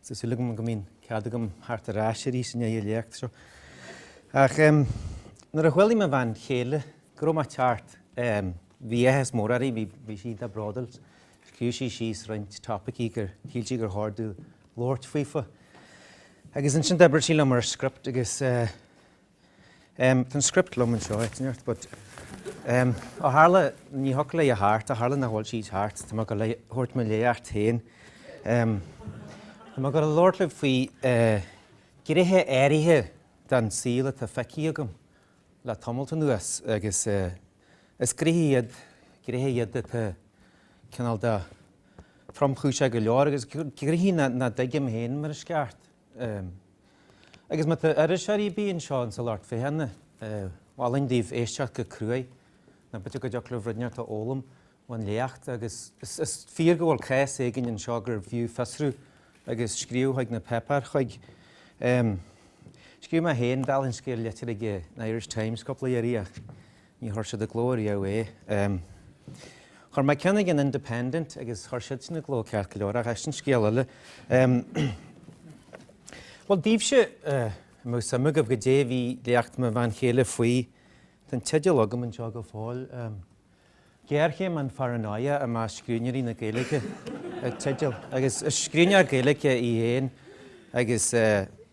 Tá súil agam go mbíonn cead agam a theacht ar ais arís i ndiaidh an léacht seo. Ach nuair a chuala mo bhean chéile go raibh mé ag teacht, bhí áthas mór uirthi, bhí sí iontach bródúil. Scríobh sí síos roinnt topaicí gur shíl sí gur chóir domh labhairt faofa. Agus ansin d'oibrigh sí liom ar script agus Tá an script liom anseo, áit inteacht, but ó tharla, ní thiocfadh léi a theacht, ó tharla nach bhfuil sí ag teacht, tá mé ag gabháil a thabhairt mo léacht féin. Tá mé ag gabháil a labhairt libh faoi ghnéithe áirithe den saol atá feicthe agam le tamalt anuas agus is gnéithe iad, gnéithe iad atá cineál de thromchúiseach go leor agus gnéithe nach dtuigim féin mar is ceart. Agus má tá iriseoirí ar bith anseo insa lucht féachana, mholfainn daoibh éisteacht go cruaidh, nó b'fhéidir go dtiocfadh libh rud inteacht a fhoghlaim ón léacht, agus is fíor go bhfuil cás éigin anseo gurbh fhiú fiosrú agus scríobh chuig na páipéir chuig. Scríobh mé féin, dála an scéil, litir chuig an Irish Times cúpla iarraidh ach Ní chuir siad i gcló riamh é. Chuir mé ceann chuig an Independent agus chuir siad sin i gcló ceart go leor, ach sin scéal eile. Bhuel, daoibhse a bhfuil suim agaibh goidé a bhí léacht mo bhean chéile faoi? Tá an teideal agam anseo go fóill. Géarchéim an Pharanóia i measc Scríbhneoirí na Gaeilge an teideal, agus is scríbhneoir Gaeilge í féin agus,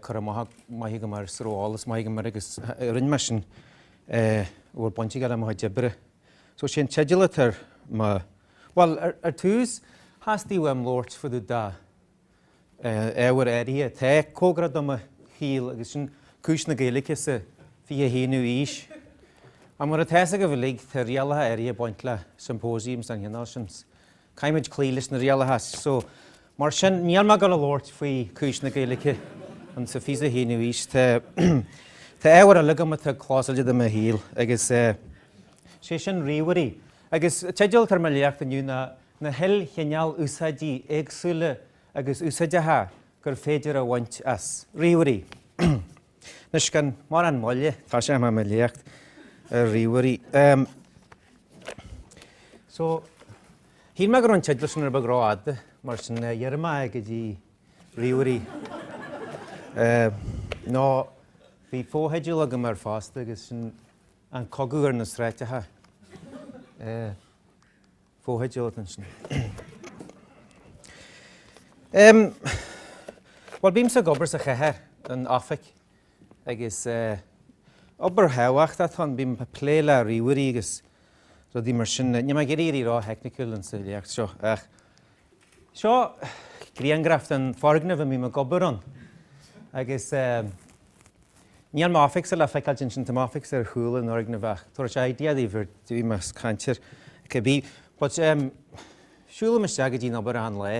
cur amach maith agam air is a raibh eolas maith agam air agus rinne mé sin a bhfuil baint aige le mo chuid oibre. So sé an teideal atá ar mo, bhuel ar tús theastaigh uaim labhairt fá dtaobh de ábhar áirithe, atá cóngarach do mo shaol agus sin cúis na Gaeilge sa fiche haonú aois. Ach mar atá fhios agaibh uilig tá rialacha áirithe ag baint le symposiums den chineál sin. Caithfimid cloí leis na rialacha so mar sin níl mé ag gabháil a labhairt faoi cúis na Gaeilge insa fiche a haonú aois. Tá tá ábhar eile agam atá clósáilte do mo shaol agus eh sé sin ríomhairí. Agus teideal atá ar mo léacht inniu Na hIlchineál Úsáidí Éagsúla agus Úsáideacha gur féidir a bhaint as Ríomhairí. Anois gan mórán moille, tosóidh mé mo léacht ar ríomhairí. So, shíl mé go raibh an teideal sin rud beag rófhada, mar sin ghearr mé é go dtí ríomhairí. Nó bhí fotheideal agam air fosta agus sin An Cogadh ar na Sráideacha. Fotheideal ansin. Em, bhuel, bímse ag obair sa chathair, in oifig, agus eh, obair thábhachtach atá ann, bím ag plé le ríomhairí agus rudaí mar sin. Níl mé ag iarraidh éirí ró-theicniúil insa léacht seo, ach Seo griangraf den foirgneamh a mbím ag obair ann agus níl m'oifigse le feiceáil ansin, tá m'oifigse ar chúl an fhoirgnimh ach tabharfaidh sé idea daoibh ar dtús má ceantar cibé but siúlaim isteach go dtí an obair achan lá.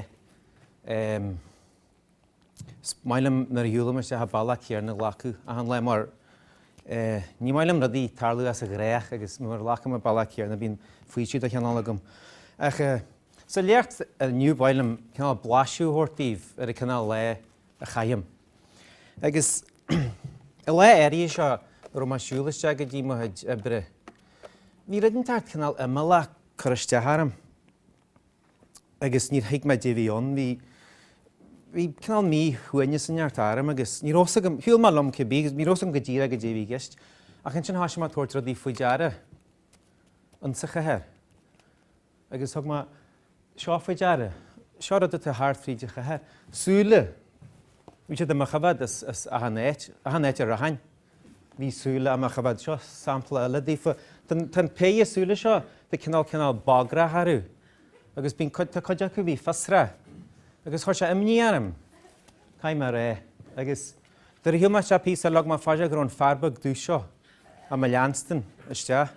Is maith liom nuair a shiúlaim isteach an bealach céanna a ghlacadh achan lá mar ní maith liom rudaí tarlú as an ghnách agus nuair a ghlacaim an bealach céanna bíonn faoiseamh de chineál agam. Ach sa léacht inniu ba mhaith liom cineál blaiseadh a thabhairt daoibh ar an cineál lá a chaithim. Agus an lá áirithe seo a raibh mé ag siúl isteach go dtí mo chuid oibre bhí rud inteacht cineál imeallach ag cur isteach orm. agus níor thuig mé goidé a bhí ann. Bhí, bhí cineál míshuaimhneas inteacht orm agus ní raibh fhios agam, shiúil mé liom cibé agus ní raibh fhios agam go díreach goidé a bhí i gceist. Ach ansin thoisigh mé ag tabhairt rudaí faoi deara, insa chathair. Agus thug mé seo faoi deara, seo rud atá thart fríd an chathair. Súile, bhí siad do mo choimhéad as, as achan áit, achan áit a rachainn. Bhí súile ag mo choimhéad, seo sampla eile daofa. Tá an péire súile seo tá cineál cineál bagrach orthu agus bíonn cuid, tá cuid acu a bhí fiosrach agus chuir sé imní orm. Caithfidh mé rá. Agus nuair a shiúil mé isteach píosa eile thug mé faoi deara go raibh an fear beag dubh seo ag mo leanstan isteach.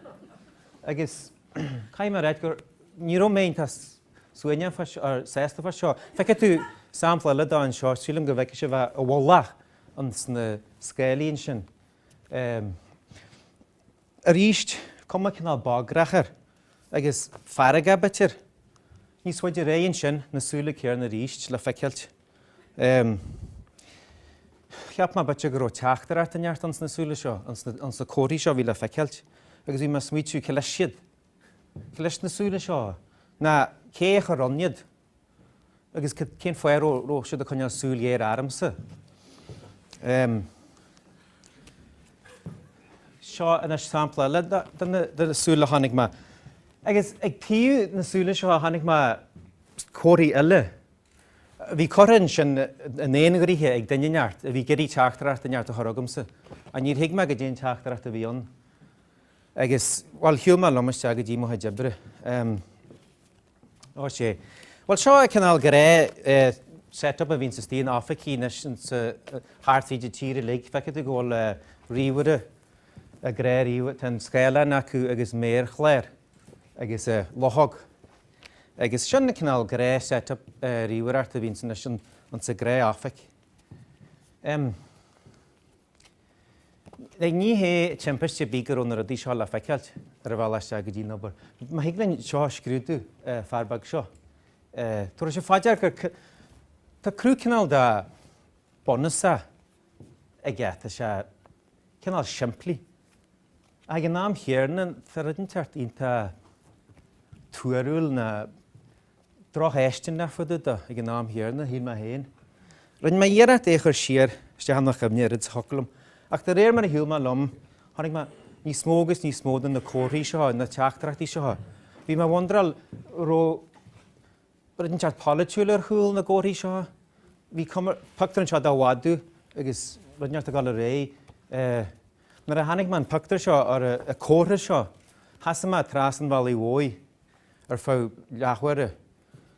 Agus caithfidh mé ráit gur, ní raibh mé iontach suaimhneach fá, sásta fá seo. Feicfidh tú sampla eile de anseo, sílim go bhfeicfidh sibh é i bhfolach. ins na scáilí ansin. Arís, cuma cineál bagrach air agus feargach b'fhéidir. Níos faide ar aghaidh ansin, na súile céarna arís le feiceáilt. Cheap mé b'fhéidir go raibh teachtaireacht inteacht ins na súile seo, ins na comharthaí seo a bhí le feiceáilt, agus bhí mé ag smaoitiú, cé leis iad? Cé leis na súile seo? Nó cé a chuir ann iad? Agus cén fáth a raibh siad ag coinneáil súil ghéar ormsa? Seo anois sampla eile de na súile a chonaic mé. Agus ag taobh na súile seo chonaic mé comharthaí eile a bhí curtha ansin d'aon ghnoithe ag duine inteacht a bhí ag iarraidh teachtaireacht inteacht a chur chugamsa. Ach níor thuig mé goidé an teachtaireacht a bhí ann. Agus, bhuel, shiúil mé liom isteach go dtí mo chuid oibre. Ó sé. Bhuel seo an cineál gnáth set up a bhíonns istigh in oifigí anois thart fríd an tír uilig. Feicfidh tú go bhfuil ríomhaire ag gnáth ríomh, tá an scáileán acu agus méarchlár agus luchóg. Agus sin an cineál gnáth set up ríomhaireachta a bhíonn anois insa ghnáthoifig. Like, ní hé timpiste ar bith go raibh na rudaí seo le feiceáilt ar an bhealach isteach go dtí an obair. Má thig linn seo a scrúdú, eh, fear beag seo, eh, tabharfaidh sibh fá dear gur c- tá cruth cineál de bunúsach aige, tá sé cineál simplí. Ag an am chéarna, tá rud inteacht iontach tuarúil nó. Drochfháistineach fá dtaobh de ag an am chéanna, shíl mé féin. Rinne mé iarracht é a chur siar isteach i mo chuimhne oiread is a thiocfadh liom, ach de réir mar a shiúil mé liom chonaic mé níos mó agus níos mó do na comharthaí seo, na teachtaireachtaí seo. Bhí mé ag wonderáil an raibh brí inteacht polaitiúil ar chúl na gcomharthaí seo. Bhí cuma ar phictiúr anseo de mhadadh agus rud inteacht ag dul ar aghaidh. Nuair a chonaic mé an pictiúr seo, or an comhartha seo, sheasaigh mé trasna an bhealaigh mhóir. ar feadh leathuaire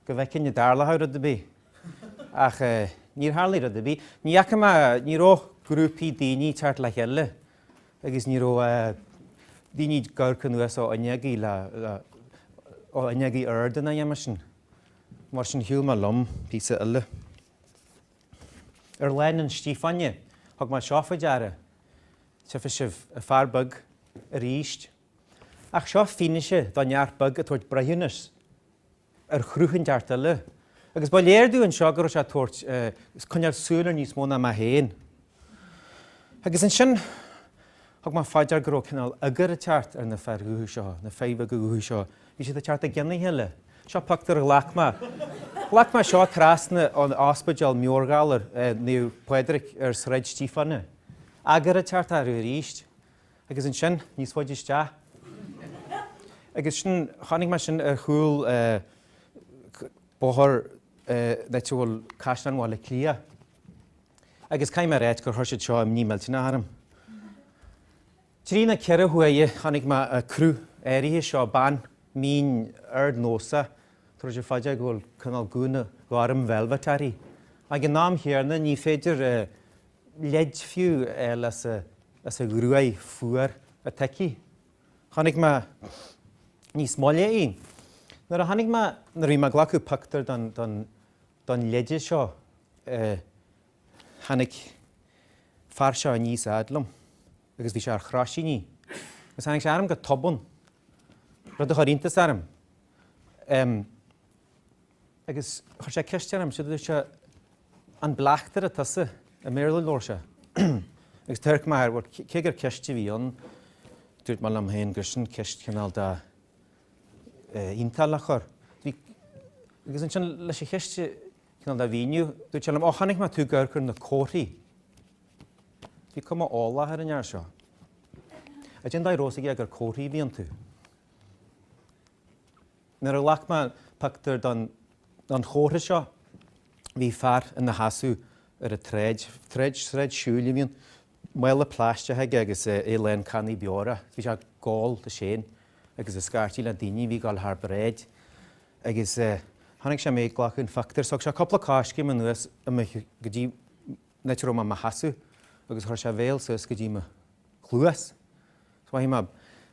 go bhfeicfinn an dtarlódh rud ar bith, ach níor tharlaigh rud ar bith. Ní fhaca mé, ní raibh grúpaí daoine ag teacht le chéile agus ní raibh daoine ag amharc anuas ó fhuinneogaí le, ó fhuinneogaí arda ná a dhath mar sin. Mar sin shiúil mé liom píosa eile. Ar Lána Stiofáine thug mé seo faoi deara, tchífidh sibh, an fear beag arís Ach seo fianaise de neach beag ag tabhairt breithiúnas ar chruth an neach eile agus ba léir domh anseo go raibh sé ag tabhairt, ag coinneáil súil ar níos mó ná mé féin. Agus ansin thug mé fá dear go raibh cineál eagar ag teacht ar na fir dhubha seo, na fir bheaga dhubha seo. Bhí siad ag teacht i gcionn a chéile. Seo pioctúir a ghlac mé. Ghlac mé seo trasna ón ospidéal meabhairghalair Naomh Pádraig ar Sráid Stíofáine. Eagar ag teacht air arís. Agus ansin, níos faide isteach. Agus sin, chonaic mé sin ar chúl Bóthar an áit a bhfuil Caisleán Bhaile Átha Cliath. Agus caithfidh mé a ráit gur chuir siad seo imní millteanach orm. Trí nó ceithre huaire chonaic mé an cruth áirithe seo, bean mín ardnósach, tabharfaidh sibh fá dear go bhfuil cineál gúna gorm velvet uirthi. Ag an am chéanna ní féidir leid fiú a fháil as a ghruaidh fuar an toicí. Chonaic mé níos moille í. Nuair a tháinig mé, nuair a bhí mé ag glacadh pioctúir don, don, don leide seo, tháinig fear seo aníos a fhad liom agus bhí sé ar chroisíní agus tháinig sé orm go tobann, rud a chuir iontas orm. agus chuir sé ceist orm, sé a dúirt sé, an bleachtaire tusa? i mBéarla labhair sé agus d'amharc mé air, bhuel cé gur ceist a bhí ann, dúirt mé liom féin gur sin ceist cineál de iontach le cur, bhí, agus ansin leis an cheist cineál de mhíniú, dúirt sé liom, ó chonaic mé tú ag amharc ar na comharthaí, bhí cuma eolach ar an fhear seo, cad é an dóigh a raibh a fhios aige gur comharthaí a bhí iontu. Nuair a ghlac mé pictiúr don chomhartha seo bhí fear ina sheasamh ar an tsráid, tsráid, sráid siúil a bhí ann, mála plaisteach aige agus é lán cannaí beora. Bhí sé ag gabháil de sin agus ag scairtigh le daoine a bhí ag dul thar bráid. Agus chonaic sé mé ag glacadh an phictiúir. Thug sé cúpla coiscéim anuas go dtí. an áit a raibh mé i mo sheasamh agus chuir sé a bhéal suas go dtí mo chluas. Is mhothaigh mé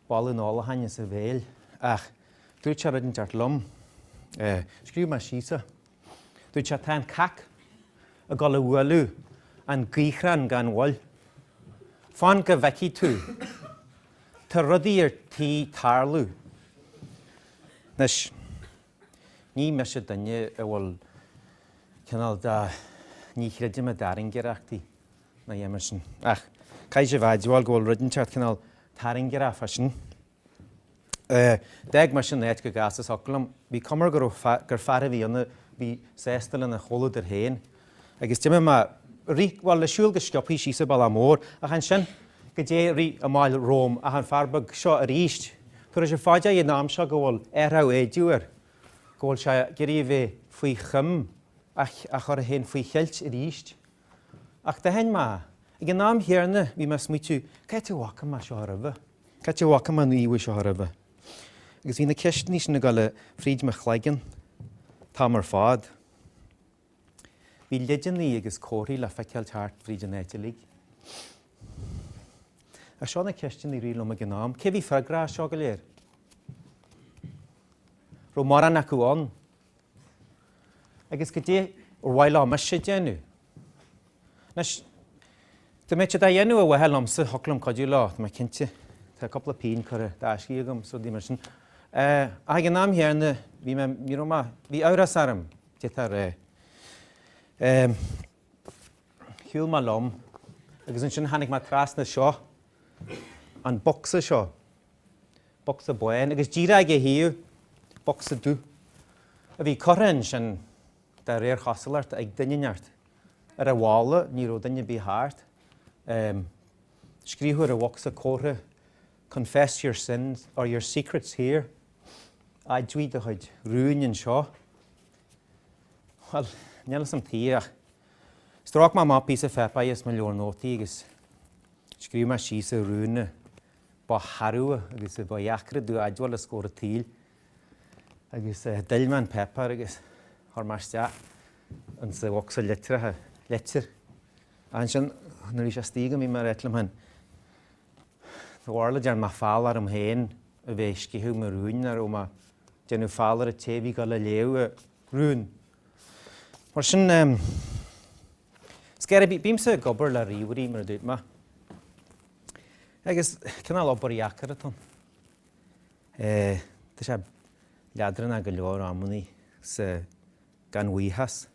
boladh an ólacháin as a bhéal ach dúirt sé rud inteacht liom. Scríobh mé síos é. Dúirt sé, Tá an cac ag dul a bhualadh an gaothrán gan mhoill. Fan go bhfeicfidh tú. Tá rudaí ar tí tarlú. Anois. Ní mise duine a bhfuil cineál de, ní chreidim i dtairngireachtaí ná a dhath mar sin, ach caithfidh sibh admháil go bhfuil rud inteacht cineál tairngireach fá sin. D'fhág mise an áit chomh gasta is a thiocfadh liom. Bhí cuma air gur fear a bhí ann a bhí sásta lena chomhluadar féin agus d'imigh mé, rith, bhuel, ag siúl go sciopthaí síos an bealach mór, ach ansin, cad é a rith amach romham, ach an fear beag seo arís, tabharfaidh sibh fá dear ag an am seo go bhfuil athrach éideadh air, go bhfuil sé ag iarraidh a bheith faoi choim, a chur féin faoi cheilt arís. Ach d'aithin mé, ag an am chéanna, bhí mé ag smaoitiú, cá háit a bhfaca mé seo roimhe? Cá háit a bhfaca mé an íomhá seo roimhe? Agus bhí na ceisteanna sin ag dul fríd mo chloigeann an t-am ar fad. Bhí leideanna agus comharthaí le feiceáil thart fríd an áit uilig. Ach seo na ceisteanna a rith liom ag an am, cé a bhí freagrach as seo go léir? An raibh mórán acu ann. Agus cad é ar mhaith leo mise a dhéanamh. Anois, dá mbeadh siad á dhéanamh ar mhaithe liomsa, thiocfadh liom cuidiú leo, tá mé cinnte. Tá cúpla pingin curtha i dtaisce agam, is rudaí mar sin. Ach ag an am chéanna, bhí mé, ní raibh mé, bhí amhras orm. difear é. Shiúil mé liom agus ansin tháinig mé trasna seo, an bocsa seo, bocsa bán, agus díreach ag a thaobh, bocsa dubh, a bhí curtha ansin de réir chosúlacht ag duine inteacht. Ar an bhalla ní raibh duine ar bith thart. Scríobhadh ar an bhocsa comhartha Confess your sins or your secrets here, admhaigh do chuid rún anseo. Bhuel, níl fhios a'm tuige ach stróic mé amach píosa páipéir as mo leabhar nótaí agus scríobh mé síos an rún ba shearbha agus ba dheacra domh a admháil os comhair an tsaoil. Agus d'fhill mé an páipéar agus chuir mé isteach ins an bhocsa litreacha, leitir. Ansin nuair a bhí sé istigh agam bhí mé ar éill amháin. Tharla go dtearn mé feall orm féin a bheith ag sceitheadh mo rúin nó an raibh mé ag déanamh feall ar an té a bhí ag gabháil a léamh an rún. Mar sin em is cér bith bímse ag obair le ríomhairí mar a dúirt mé. Agus cineál obair dheacair atá ann. Eh tá sé leadránach go leor amannaí sa gan bhuíochas.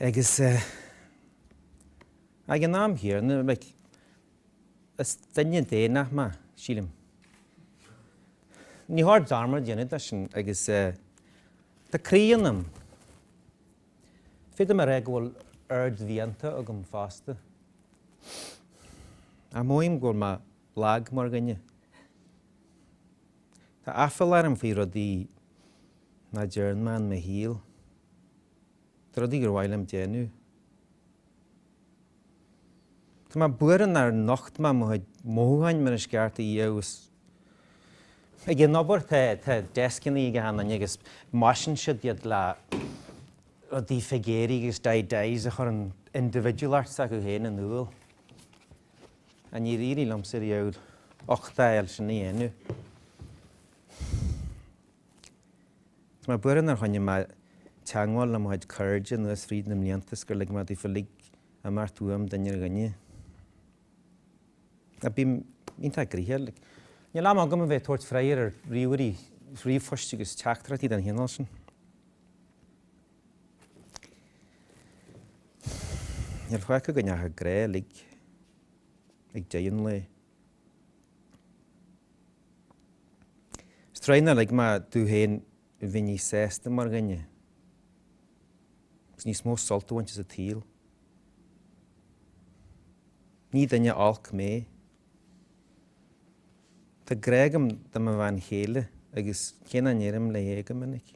Agus ag an am chéanna, like, is duine daonnach mé, sílim. Ní cheart dearmad a dhéanamh de sin agus tá croí ionam. Féadaim a rá go bhfuil ardmhianta agam fosta. Admhaím go bhfuil mé lag mar dhuine. Tá aiféala orm faoi rudaí Nach dtearn mé i mo shaol. Tá rudaí gur mhaith liom déanamh. Tá mé buartha nár nocht mé mo mhothúcháin mar is ceart agus ag an obair tá deascannaí ag achan duine agus maisíonn siad iad le rudaí figéiri agus doodahs a chuireann individualacht s'acu féin in iúl. Ach níor éirigh liomsa riamh a leithéid sin a dhéanamh. Tá mé buartha nár choinnigh mé teangmháil le mo chuid cairde anuas fríd na mblianta is gur lig mé daofa uilig imeacht uaim duine ar dhuine. Bím iontach gnoitheach. Níl am agam a bheith ag tabhairt freagair ar ríomhairí, ríomhphoist agus teachtaireachtaí den chineál sin. Níl faic ann ach an grá uilig ag deireadh an lae. Is truaighe nár lig mé domh féin bheith níos sásta mar dhuine agus níos mó sult a bhaint as an tsaol. Ní duine olc mé. Tá grá agam do mo bhean chéile agus cé nach ndeirim léi go minic,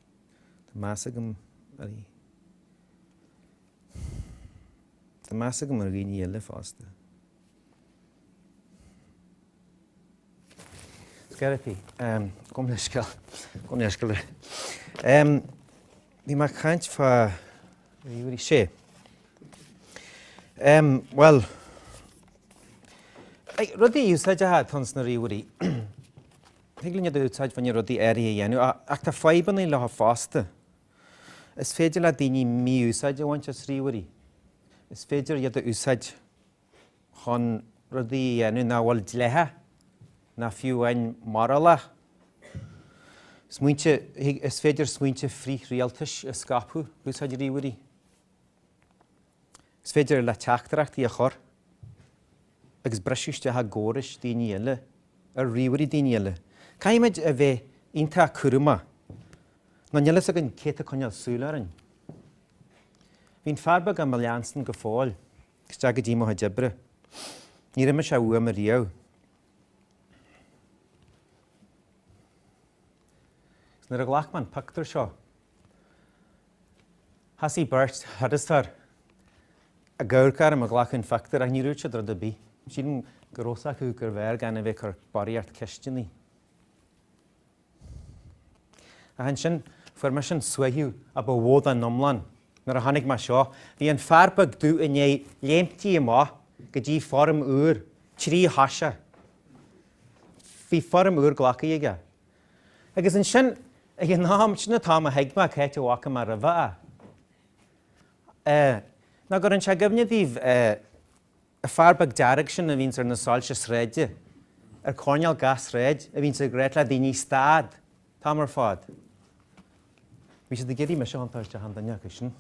tá meas agam uirthi. Tá meas agam ar dhaoine eile fosta. Sceirpí. Gabh mo leithscéal. Gabh mo leithscéal. Bhí mé ag caint fá ríomhairí, sé. Bhuel, rudaí úsáideacha atá ins na ríomhairí, thig linn iad a úsáid fá choinne rudaí áirithe a dhéanamh ach tá fadhbanna leo fosta. Is féidir le daoine mí-úsáid a bhaint as ríomhairí. Is féidir iad a úsáid chun rudaí a dhéanamh nach bhfuil dleathach ná fiú amháin morálach. Is féidir smaointe frith-rialtais a scaipeadh ag úsáid ríomhairí. Is féidir leat teachtaireachtaí a chur agus briseadh isteach i gcórais daoine eile, ar ríomhairí daoine eile. Caithfimid a bheith iontach cúramach nó níl fhios againn cé atá ag coinneáil súil orainn. Bhí an fear beag ag mo leanstan go fóill. isteach go dtí mo chuid oibre. Níor imigh sé uaim ariamh. Agus nuair a ghlac mé an pictiúr seo, thosaigh beirt thurasóir ag amharc orm ag glacadh an phictiúir ach níor dhúirt siad rud ar bith. Sílim go raibh 'fhios acu gurbh fhearr gan a bheith ag cur barraíocht ceisteannaí. Ach ansin fuair mise an suaitheadh a ba mhó den iomlán nuair a tháinig mé air seo. Bhí an fear beag dubh i ndiaidh léimtí amach go dtí foirm úr tríthoiseach. Bhí foirm úr glactha aige. Agus ansin ag an am, sin an t-am a thuig mé c'áit a bhfaca mé roimhe é. Nach gcuireann sé i gcuimhne daoibh an fear beag dearg sin a bhíonns ar na soilse sráide, ar coirnéal gach sráid, a bhíonns ag ráit le daoine stad an t-am ar fad. Bhí siad ag iarraidh mise a thiontáil isteach i nduine acu sin.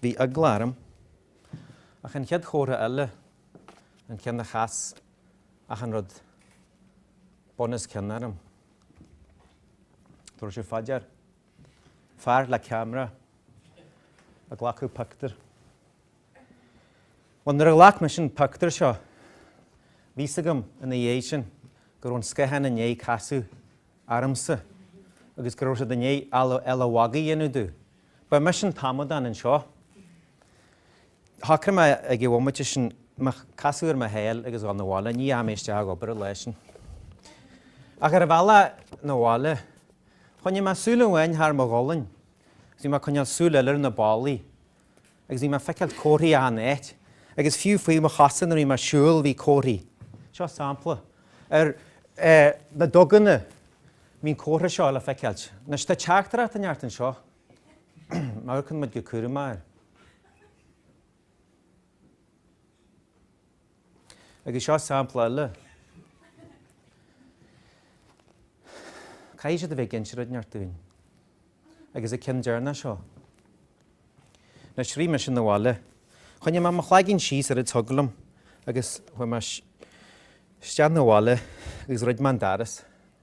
Bhí eagla orm. Ach an chéad chomhartha eile, an ceann a chas achan rud bunoscionn orm, do raibh sé faidear, fear le ceamara, Ag glacadh pictiúr. Bhuel nuair a ghlac mise an pictiúr seo bhí 'fhios agam ina dhiaidh sin go raibh an scáthán i ndiaidh casadh ormsa agus go raibh siad i ndiaidh eala mhagaidh a dhéanamh domh. Ba mise an t-amadán anseo. Shocraigh mé ag an bhomaite sin casadh ar mo sháil agus dhul 'na bhaile. Ní dheachaigh mé isteach ag obair an lá sin. Ach ar an bhealach 'na bhaile choinnigh mé súil amháin thar mo ghualainn agus bhí mé ag coinneáil súil eile ar na ballaí agus bhí mé ag feiceáil comharthaí achan áit agus fiú faoi mo chosa nuair a bhí mé ag siúl bhí comharthaí. Seo sampla ar na duganna bíonn an comhartha seo le feiceáilt. Anois tá teachtaireacht in Art anseo. Má amharcann muid go cúramach air. Agus seo sampla eile. Caithfidh siad a bheith ag inse rud inteacht dúinn. Agus an ceann deireanach seo. Anois rith mise 'na bhaile. Choinnigh mé mo chloigeann síos ar an dtuigeann agus chuaigh mé isteach 'na bhaile agus dhruid mé an doras.